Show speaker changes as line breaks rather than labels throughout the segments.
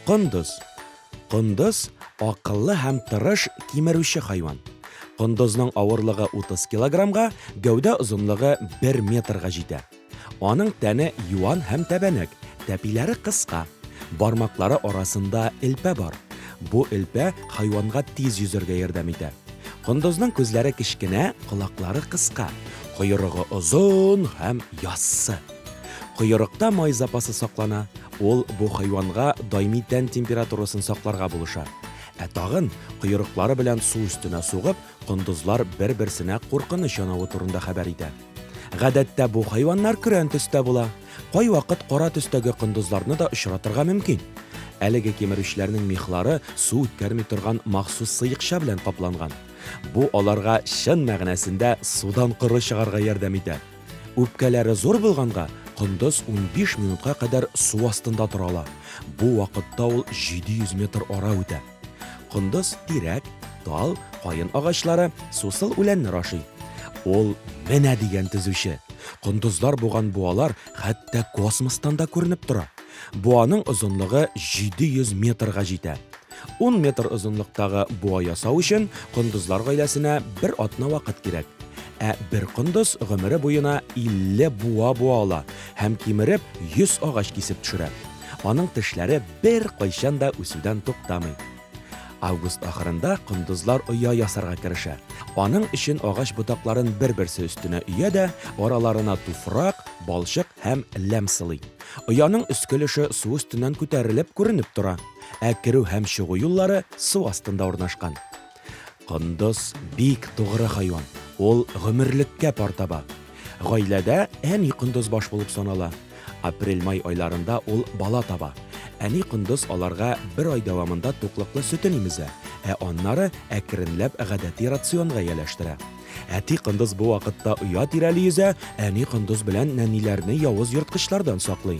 Кондыз. Кондыз акыллы һәм тырыш кимерүче хайван. Кондызның авырлыгы 30 килограммга, гәүдә озынлыгы 1 метрга җитә. Аның тәне юан һәм тәбәнәк, тәпиләре кыска. Бармаклары арасында элпә бар. Бу элпә хайванга тиз йөзәргә ярдәм итә. Кондызның күзләре кечкенә, колаклары кыска. Койрыгы озын һәм яссы. Койрыкта май запасы саклана, ул бу хайванга даими тән температурасын сакларга булыша. Ә тагын, койрыклары белән су өстенә сугып, кондызлар бер-берсенә куркыныч янавы турында хәбәр итә. Гадәттә бу хайваннар көрән төстә була, кайвакыт кара төстәге кондызларны да очратырга мөмкин. Әлеге кимерүчеләрнең мехлары су үткәрми торган махсус сыекча белән капланган. Бу аларга чын мәгънәсендә судан коры чыгарга ярдәм итә. Үпкәләре зур булганга, кондыз унбиш минутка кадәр су астында тора ала. Бу вакытта ул 700 метр ара үтә. Кондыз тирәк, тал, каен агачлары, сусыл үләннәр ашый. Ул менә дигән төзүче. Кондызлар буган буалар хәтта космостан да күренеп тора. Буаның озынлыгы 700 метрга җитә. 10 метр озынлыктагы буа ясау өчен кондызлар гаиләсенә бер атна вакыт кирәк. Ә бер кондыз гомере буена 50 буа буа ала һәм кимереп 100 агач кисеп төшерә. Аның тешләре беркайчан да үсүдән туктамый. Август ахырында кондызлар оя ясарга керешә. Аның өчен агач ботакларын бер-берсе өстенә өя дә, араларына туфрак, балчык һәм ләм сылый. Ояның өске өлеше су өстеннән күтәрелеп күренеп тора, ә керү һәм чыгу юллары су астында урнашкан. Кондыз бик тугры хайван. Ул гомерлеккә пар таба. Гаиләдә әни кондыз баш булып санала. Апрель-май айларында ул бала таба. Әни кондыз аларга бер ай дәвамында туклыклы сөтен имезә, ә аннары әкренләп гадәти рационга ияләштерә. Әти кондыз бу вакытта оя тирәли йөзә, әни кондыз белән нәниләрне явыз ерткычлардан саклый.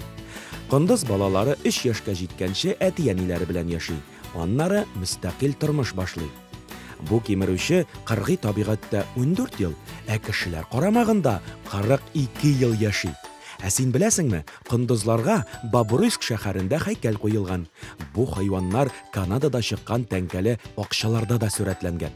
Кондыз балалары өч яшькә җиткәнче әти-әниләре белән яши. Аннары мөстәкыйль тормыш башлый. Бу кимерүче кыргый табигатьтә ундүрт ел, ә кешеләр карамагында кырык ике ел яши. Ә син беләсеңме, кондызларга Бобруйск шәһәрендә һәйкәл куелган. Бу хайваннар Канадада чыккан тәңкәле акчаларда да сурәтләнгән.